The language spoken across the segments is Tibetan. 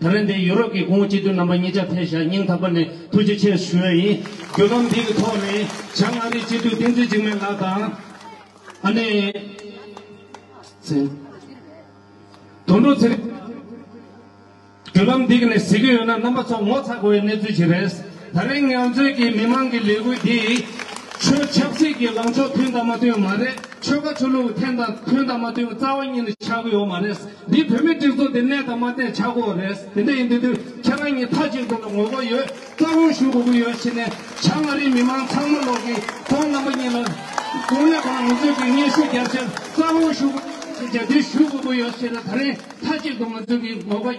ད་ལན་དེ་ཡུ་རོབ་ཀྱི་སྐུ་ངོ་སྤྱི་འཐུས་རྣམ་པ་གཉིས་ཆ་ཕེ་ཞྭ་སྙིང་ཐག་པ་ནས་ཐུགས་རྗེ་ཆེ་ཞུ་ཡ་ཡིན། བརྒྱུད་ལམ་འདི་གི་ཐོག་ནས་བྱང་མངའ་རིས་སྤྱི་འཐུས་བསྟན་འཛིན་འཇིགས་མེད་ལགས་དང། ཨ་ནེ། ཚེ། དོན་འགྲུབ་ཚེ་རིང། བརྒྱུད་ལམ་འདི་གི་ནས་གཟིགས་ཀྱི་ཡོད་ན་རྣམ་པ་ཚོ་ངོ་ཚ་དགོས་པའི་གནས་ཚུལ་ཞིག་རེད། ད་རེས་ངལ་རྩོལ་གྱི་མི་མང་གི་ལས་འགུལ་དེས་ཆོས་ཆབ་སྲིད་ཀྱི་ལངས་ཕྱོགས་ཐོན་དང་མ་ཐོན་མ་རེད་ཆོལ་ཁ་ཆོས་ལུགས་ཐན་དང་ཐོན་དང་མ་ཐོན་རྩ་བ་ཉིད་ནས་ཆགས་ཀྱི་ཡོད་མ་རེད་འདི་བོད་མིའི་སྒྲིག་འཛུགས་དེ་གནས་དང་མ་གནས་ཆགས་དགོས་རེད་དེ་འདྲ་ཡིན་དུས་དུས་ཁྱེད་རང་གཉིས་མཐའ་གཅིག་ཏུ་ལ་ངོ་རྒོལ་ཡོད་རྩ་དགོངས་ཞུ་དགོས་ཀྱི་ཡོད་ཕྱིན་ནས་བྱ་ང་རིགས་མི་མང་ཚང་མ་ལོག་གི་ཁོང་རྣམ་པ་གཉིས་ལ་དགོངས་ནས་ཁོང་ངོ་རྩོད་ཀྱི་སྙན་ཞུ་རྒྱབ་ཕྱིར་རྩ་དགོངས་ཞུ་དགོས་ཀྱི་ཡོད་ཕྱིན་ན་དེ་ཞུ་དགོས་ཀྱི་ཡོད་ཕྱིན་ན་ད་རེས་མཐའ་གཅིག་ཏུ་ང་ཚོ་གི་ངོ་རྒོལ།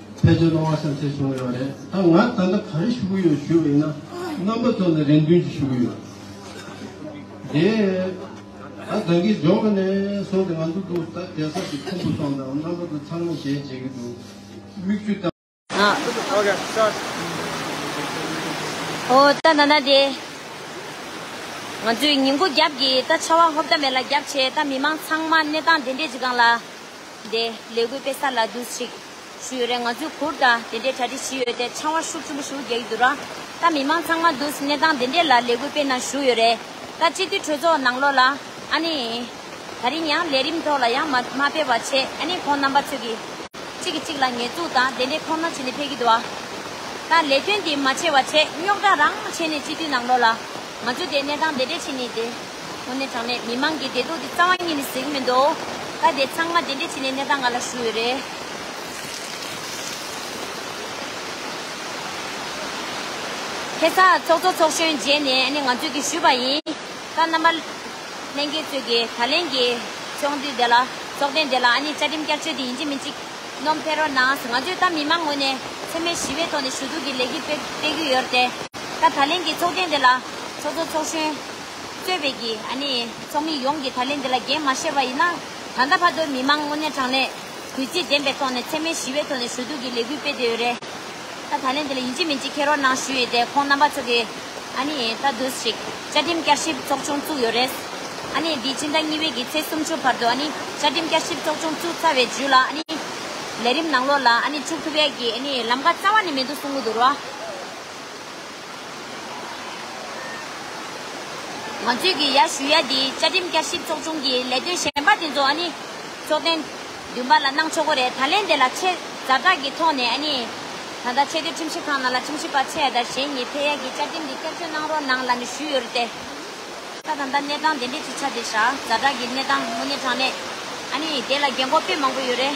ཕལ་ཆེར་སློང་བ་བསམ་ཤེས་བྱུང་ཡོད་རེད་ད་ང་ད་ལྟ་ག་རེ་ཞུ་གི་ཡོད་ཞུ་ཡིན་ན་རྣམ་པ་ཙམ་ལས་རེ་འདུན་གྱི་ཞུ་གི་ཡོད་དེ་ད་ད་གིན་ཇོ་མི་ནས་སོང་སྟེ་ང་ཚོ་དུ་ད་རྒྱལ་ཚབ་ཀྱི་ཁུང་བུ་སོང་དང་རྣམ་པ་དུ་ཚང་མ་ཞལ་མཇལ་གྱི་འདུག་མིག་ཆུ་བཏང། ཨོ་ད་ན་ན་དེ། ང་ཚོས་ཉིན་གུང་རྒྱབ་ཀྱི་ད་ཆར་བ་ཧོབ་ད་མེ་ལ་རྒྱབ་བྱས་ད་མི་མང་ཚང་མ་གནས་སྟངས་དེ་འདྲས་ཅིག་གང་ལ། དེ་ལས་གུས་པས་ས་ལ་འདུག་ཅིག། ཞུ་ཡོད་རེད་ང་ཚོའི་གུར་དང་དེ་འདྲའི་གྲ་སྒྲིག་བྱེད་ཡོད་དེ་ཆང་བ་ཤུགས་ཆེན་པོ་ཞུ་རྒྱག་གི་འདུག་ར་ད་མི་མང་ཚང་མ་འདུག་གནས་སྟངས་དེ་འདྲའི་ལ་ལས་གུས་སྤེ་གནང་ཞུ་ཡོད་རེད་ད་སྤྱི་འཐུས་གྲོས་ཚོགས་ནང་ལོག་ལ་ཨ་ནི་ད་རིང་ཡང་ལས་རིམ་ཐོག་ལ་ཡང་མ་མ་ཕེབས་བ་བྱས་ཨ་ནི་ཁོང་རྣམ་པ་ཚོས་གི་གཅིག་གི་གཅིག་ལ་ཉེས་འཛུགས་དང་དེ་འདྲའི་ཁོམ་ན་བྱེད་ནས་ཕེབས་གི་འདུག་ཨ་ད་ལས་དོན་དེ་མ་བྱས་བ་བྱས་རྙོག་དྲ་རང་བྱས་ནས་སྤྱི་འཐུས་ནང་ལོག་ལ་ང་ཚོ་དེ་གནས་སྟངས་དེ་འདྲའི་ཕྱིན་ནི་དེ། དངོས་གནས་དྲང་གནས་མི་མང་གི་བདེ་སྡུག་དེ་རྩ་བ་ཉིད་ནས་གཟིགས་མི་འདུག་ད་དེ་ཚང་མ་དེ་འདྲས་བྱས་ནས་གནས་སྟངས་ང་ལ་ཞུ་འོས་རེད། ཁེ་བཟང་ཚོགས་གཙོ་ཚོགས་གཞོན་མཇལ་ནས་ནི་ང་ཚོས་ཀྱི་ཞུས་པ་ཡིན། ད་རྣམ་པ་གླེང་མཁན་ཚོས་ཀྱི་ད་ལན་གྱི་ཚོགས་འདུས་དེ་ལ་ཚོགས་ཐེངས་དེ་ལ་ནི་བཅའ་ཁྲིམས་བསྐྱར་བཅོས་དེ་ཡིན་གཅིག་མིན་གཅིག་ནོམ་ཕེ་རོ་ནང་ང་ཚོས་ད་མི་མང་ངོས་ནས་འཚེ་མེད་ཞི་བའི་ཐོག་ནས་ཞུ་གཏུག་གི་ལས་གཞི་སྤེལ་གྱི་ཡོད་རེད་དེ། ད་ད་ལན་གྱི་ཚོགས་ཐེངས་དེ་ལ་ཚོགས་གཙོ་ཚོགས་གཞོན། སྤྱོད་པའི་གི་ཨ་ནི་ཚོགས་མི་ཡོངས་ཀྱིས་ད་ལན་འདི་ལ་འགན་མ་བཞེས་པ་ཡིན་ན། ད་ལྟ་བར་དུ་མི་མང་དངོས་གནས་དྲང་གནས། གུས་བརྩི་ལྡན་པའི་ཐོག་ནས་འཚེ་མེད་ཞི་བའི་ཐོག་ནས་ཞུ་གཏུག་གི་ལས་འགུལ་སྤེལ་བསྡད་ཡོད་རེད། ད་ད་ལན་འདི་ལ་ཡིན་གཅིག་མིན་གཅིག་ཁྱེད་རོགས་གནང་ཞུ་ཡི་དེ་ཁོང་རྣམ་པ་ཚོ་གི་ཨ་ནི་ད་དུས་ཤིག་བཅའ་ཁྲིམས་བསྐྱར་ཞིབ་ཚོགས་ཆུང་བཙུགས་ཡོད་རེད། ཨ་ནི་འདི་ཕྱི་ཟླ་གཉིས་པའི་གི་ཚེས་སུམ་ཅུ་བར་དུ་ཨ་ནི་བཅའ་ཁྲིམས་བསྐྱར་ཞིབ་ཚོགས་ཆུང་བཙུགས་ཚར་བའི་རྗུས་ལ་ཨ་ནི་ལས་རིམ་ནང་ལོགས་ལ་ཨ་ནི་བཅུག་ཐུབ་ཡ་གི་ཨ་ནི་ལམ་ཁ་རྩ་བ་ནས་མི་འདུག་གསུང་གི་འདུག་རོགས། ང་ཚོས་ཀྱི་ཡ་ཞུ་ཡ་འདིའི་བཅའ་ཁྲིམས་བསྐྱར་ཞིབ་ཚོགས་ཆུང་གི་ལས་དོན་གཞན་པ་དེ་ཚོ་ཨ་ནི། ཚོགས་གཏན། བདུན་པ་ལ་གནང་ཆོག་གོ་རེད་ད་ལན་དེ་ལ་ཆེ་ཛར་དྲག་གི་ཐོག་ནས་ཨ་ནི། ད་ལྟ་ཆེ་བསྟོད་ཁྲིམས་ཞིབ་ཁང་ནང་ལ་ཁྲིམས་ཞིབ་པ་ཚེ་ཡ་དར་གཞན་གཉིས་ཕེ་ཡ་གི་བཅའ་ཁྲིམས་འདི་བསྐྱར་བཅོས་གནང་རོགས་གནང་ལ་ནི་ཞུས་ཡོད་རེད་དེ། ད་ད་ལྟ་གནས་སྟངས་དེ་འདྲས་ཅིག་ཆགས་འདི་ཤ་ཛར་དྲག་གི་གནས་སྟངས་དངོས་གནས་དྲང་གནས། ཨ་ནི། དེ་ལ་རྒན་གོག་དཔེ་མང་པོ་ཡོད་རེད།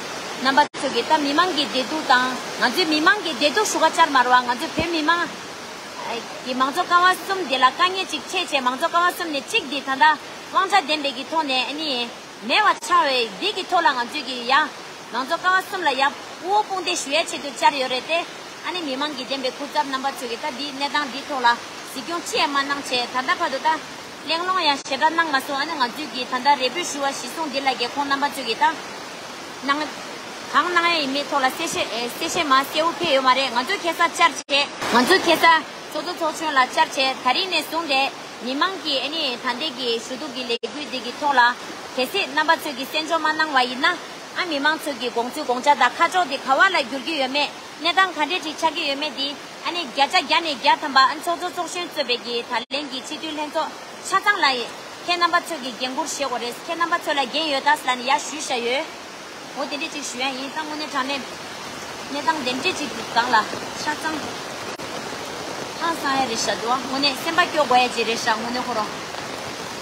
རྣམ་པ་ཚོས་ཀྱི་ད་མི་མང་གི་བདེ་སྡུག་དང་ང་ཚོའི་མི་མང་གི་བདེ་སྡུག་ཧྲུག་ཁ་ཆར་མར་བ་ང་ཚོ་བོད་མི་མང་གི་མང་གཙོ་རྐང་བ་གསུམ་འདི་ལ་དཀའ་ངལ་ཅིག་ཆེ་ཆེ་མང་གཙོ་རྐང་བ་གསུམ་ནས་གཅིག་འདི་ད་ལྟ་དབང་ཆ་ལྡན་པའི་གི་ཐོག་ནས་ཨ་ནི་མེད་བ་ཆགས་བས་འདི་གི་ཐོག་ལ་ང་ཚོས་ཀྱི་ཡ་མང་གཙོ་རྐང་བ་གསུམ་ལ་ཡ་བུ་བོ་དཔུང་འདེགས་ཞུ་ཡ་ཆེད་དུ་བཅར་ཡོད་རེད་དེ་ཨ་ནི་མི་མང་གི་བདེན་པའི་ཁུར་ཚབ་རྣམ་པ་ཚོས་ཀྱི་ད་འདི་གནས་སྟངས་འདི་ཐོག་ལ་གཟིགས་སྐྱོང་ཅི་ཡང་མ་གནང་བྱས་ད་ལྟ་བར་དུ་ད། གླེང་སློང་ཡང་ཞེ་དྲག་གནང་མ་སོང་ཨ་ནི་ང་ཚོས་ཀྱིས་ད་ལྟ་རེ་འབོད་ཞུ་བ་བཞི་སོང་འདི་ལ་རྒྱལ་ཁོངས་རྣམ་པ་ཚོས་ཀྱིས་ད་གནང་གང་གནང་ཡ་ཡིན་མིན་ཐོག་ལ་གསལ་བཤད་གསལ་བཤད་མ་གསལ་བོ་ཕེབས་ཡོད་མ་རེད་ང་ཚོས་ཁེ་སང་བཅར་བྱས། ང་ཚོས་ཁེ་སང་ཚོགས་གཙོ་ཚོགས་ཆུང་ལ་བཅར་བྱས་ད་རིང་ནས་བཟུང་སྟེ་མི་མང་གིས་ཨ་ནི་ད་ལྟའི་གི་ཞུ་གཏུག་གི་ལས་འགུལ་འདི་གི་ཐོག་ལ་གལ་སྲིད་རྣམ་པ་ཚོས་ཀྱིས་གསན་འཇོག་མ་གནང་བ་ཡིན་ན་ཨ་མི་མང་ཚོས་ཀྱི་དགོངས་ཚུལ་དགོངས་འཆར་དང་ཁ་ཕྱོགས་དེ་ག་བ་ལ་འགྱུར་གྱི་ཡོད་མེད། གནས་སྟངས་ག་འདྲས་ཅིག་ཆགས་ཀྱི་ཡོད་མེད་དེ་ཨ་ནི་བརྒྱ་ཆ་བརྒྱ་ནས་བརྒྱ་ཐམ་པ་ཨ་ཚོགས་གཙོ་ཚོགས་གཞོན་གཙོས་བལ་གྱི་ད་ལན་གྱི་སྤྱི་འཐུས་ལྷན་ཚོགས་ཆ་ཚང་ལ་ཡིན། ཁྱེད་རྣམ་པ་ཚོས་ཀྱི་འགན་འཁུར་བཞེས་དགོས་རེད་ཁྱེད་རྣམ་པ་ཚོས་ལ་འགན་ཡོད་ད་ལ་ནི་ཡ་ཞུས་བཞག་ཡོད། འོ་དེ་འདྲས་ཅིག་ཞུ་ཡ་ཡིན་ད་དངོས་གནས་དྲང་གནས་གནས་སྟངས་དེ་འདྲས་ཅིག་གི་སྒང་ལ་ཆ་ཚང་ཧང་སང་ཡ་རེད་བཞག་འདུག་ཨ་དངོས་གནས་སེམས་པ་སྐྱོ་དགོས་ཡ་ཅིག་རེད་བཞག་དངོས་གནས་ཁོ་རང།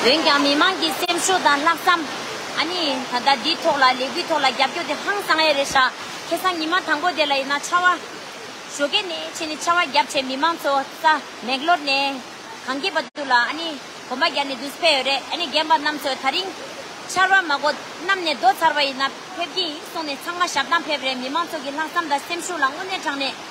འོན་ཀྱང་མི་མང་གི་སེམས་ཤུགས་དང་ལྷག་བསམ། ཨ་ནི། ད་ལྟ་འདིའི་ཐོག་ལ་ལས་འགུལ་ཐོག་ལ་རྒྱབ་སྐྱོར་དེ་ཧང་སང་ཡས་རེད་ཤག་ཁེ་སང་ཉི་མ་དང་པོ་དེ་ལ་ཡིན་ན་ཕྱ་བ། ཞོ་ཀེ་ནས་ཕྱིན་ནས་ཕྱ་བ་རྒྱབ་བྱས་མི་མང་ཚོ་རྩ་མེད་གློར་ནས། གང་སྐྱིད་པ་དུ་ལ་ཨ་ནི། གོམ་པ་རྒྱག་ནས་འདུག་སྤེ་ཡོད་རེད་ཨ་ནི་རྒན་པ་རྣམས་ཚོས་ད་རིང། ཕྱར་བ་མ་གོ་གནམ་ནས་རྡོ་ཚར་བ་ཡིན་ན་ཕེབས་ཀྱི་ཡིན་གསུངས་ནས་ཚང་མ་ཞབས་འདང་ཕེབས་རེད་མི་མང་ཚོ་གི་ལྷག་བསམ་དང་སེམས་ཤུགས་ལ་དངོས་གནས་དྲང་གནས།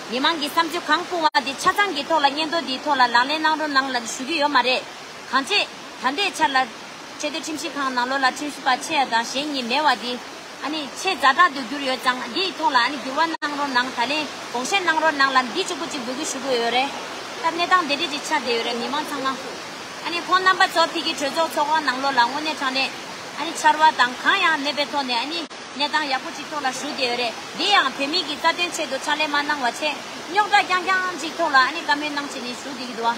མི་མང་གི་བསམ་ཚུལ་གང་སྤུང་བ་དེ་ཆ་ཚང་གི་ཐོག་ལ་སྙན་ཐོ་འདིའི་ཐོག་ལ་ལག་ལེན་གནང་རོགས་གནང་ལ་ཞུ་གི་ཡོད་མ་རེད། གང་ཅེས། ད་ལྟའི་ཆར་ལ། ཆེས་མཐོའི་ཁྲིམས་ཞིབ་ཁང་ནང་ལོ་ལ་ཁྲིམས་ཞིབ་པ་ཆེ་ཡ་དང་གཞན་གཉིས་མེད་བ་འདི། ཨ་ནི། ཆེས་རྫ་དྲག་ཏུ་གྱུར་ཡོད་ཙང་འདིའི་ཐོག་ལ་ཨ་ནི་འགྱུར་བ་གནང་རོགས་གནང་ད་ལན་དགོངས་བཞེས་གནང་རོགས་གནང་ལ་འདི་ཅིག་པོ་ཅིག་འབུལ་གི་ཞུ་གི་ཡོད་རེད། ད་གནས་སྟངས་དེ་འདྲས་ཅིག་ཆགས་བསྡད་ཡོད་རེད་མི་མང་ཚང་མ། ཨ་ནི་ཁོང་རྣམ་པ་ཚོ་ཕིག་གི་གྲོས་ཚོགས་ཚོགས་ཁང་ནང་ལོ་ལ་དངོས་གནས་དྲང་གནས། ཨ་ནི་ཕྱར་བ་དང་གང་ཡང་མེད་པའི་ཐོག་ནས་ཨ་ནི། གནས་སྟངས་ཡག་པོ་གཅིག་ཐོག་ལ་ཞུགས་བསྡད་ཡོད་རེད་འདི་ཡང་བོད་མིག་གིས་རྩ་དོན་ཆེད་དུ་ཕྱག་ལས་མ་གནང་བ་ཆེད་རྙོག་དྲ་རྐྱང་རྐྱང་གཅིག་ཐོག་ལ་ཨ་ནི་བཀའ་མོལ་གནང་ཆེད་ནས་ཞུགས་བསྡད་ཀྱི་འདུག་ཨ།